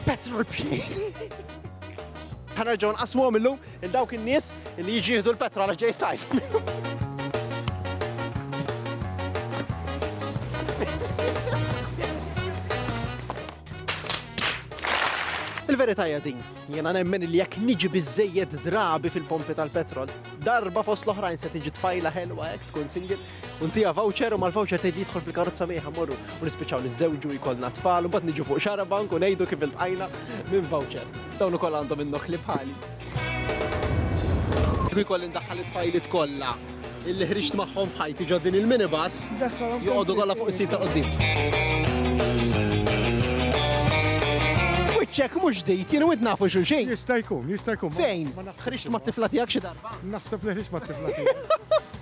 Petrol bxej. Ħanerġgħu nqasmuhom illum il dawk in-nies li jiġi jieħdu l-petrol għax ġej sajf. Il-verità hija din. Jiena nemmen li jekk niġi biżżejjed drabi fil-pompi tal-petrol, darba fost l-oħrajn se tiġi tfajla ħelwa hekk tkun single, u ntija voucher u mal-voucher tgħid li jidħol fil-karozza miegħha morru u nispiċċaw niżżewġu jkollna tfal u mbagħad niġu fuq xarabank u ngħidu kif iltqajna minn voucher. Dawn ukoll għandhom in-nokli bħali. Kieku jkolli ndaħħal it-tfajliet kollha. illi ħriġt magħhom f'ħajti ġo din il-minibus joqogħdu kollha fuq is-sit ta' qudiem. Wiċċek mhux ġdid, jien wid nafu xulxin. Jista' jkun, jista' jkun. Fejn? Ħriġt mat-tifla tiegħek xi darba? Naħseb li ħriġt mat-tifla tiegħek.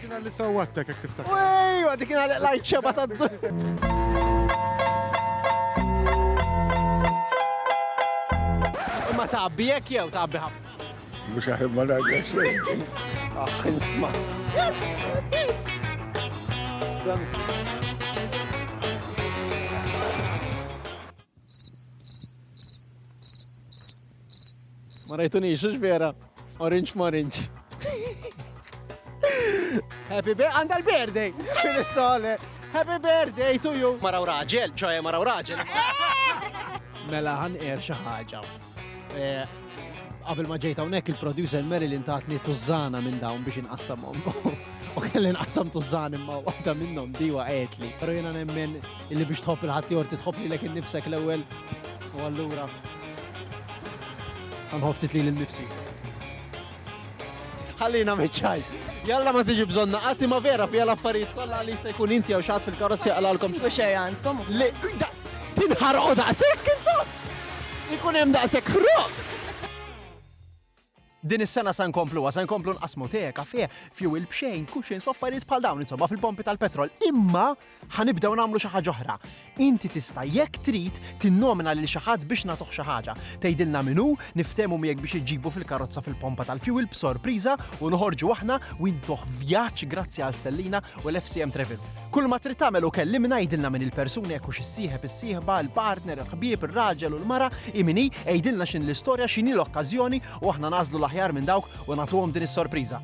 Kien li sawwattek jekk tiftakar. Ej, għadi kien għalek lajt xeba ta' Imma tabbi jekk jew tabbi ħafna. Mhux aħjar ma ngħidlek xejn. Aħ, instmat. Ma rajtunix, ux vera? Orange morange. Happy birthday, għanda l-birthday! Fil-sole, happy birthday to you! Maraw raġel, ċoħe maraw raġel. Mela għan er xaħġa. Qabel ma ġejt hawnhekk il-producer Marilyn tatni tużana minn dawn biex inqassamhom. U kelli nqassam tużan imma waħda minnhom diwa qedli. Però jiena nemmen illi biex tħobb il-ħaddieħor titħobb lilek innifsek l-ewwel u allura ħanħobb titli lil nifsi. Ħallina meċċaj. Jalla ma tiġi bżonna, għati ma vera fija l-affarijiet kollha li jista' jkun inti jew xatt fil-karozzi għalalkom. Sibu xejn għandkom. Tinħarqu daqshekk intom! Ikun hemm daqshekk ħruq! Din is-sena se nkompluha, se nkomplu nqassmu te, kafè, fuel b'xejn, cushions u affarijiet bħal dawn insomma fil-pompi tal-petrol, imma ħa nibdew nagħmlu xi ħaġa oħra. Inti tista' jekk trid tinnomina lil xi ħadd biex nagħtuh xi ħaġa. Tgħidilna min hu, niftehmu miegħek biex iġġibu fil-karozza fil-pompa tal-fuel b'sorpriża u noħorġu aħna u intuh vjaġġ grazzi għal Stellina u l-FCM Travel. Kull ma trid tagħmel hu kellimna, għidilna min il-persuna jekk hux is-sieħeb, is-sieħba, il-partner, il-ħbieb, ir-raġel u l-mara, hi min hi, għidilna x'inhi l-istorja, x'inhi l-okkażjoni u aħna nagħżlu l-aħjar minn dawk u nagħtuhom din is-sorpriża.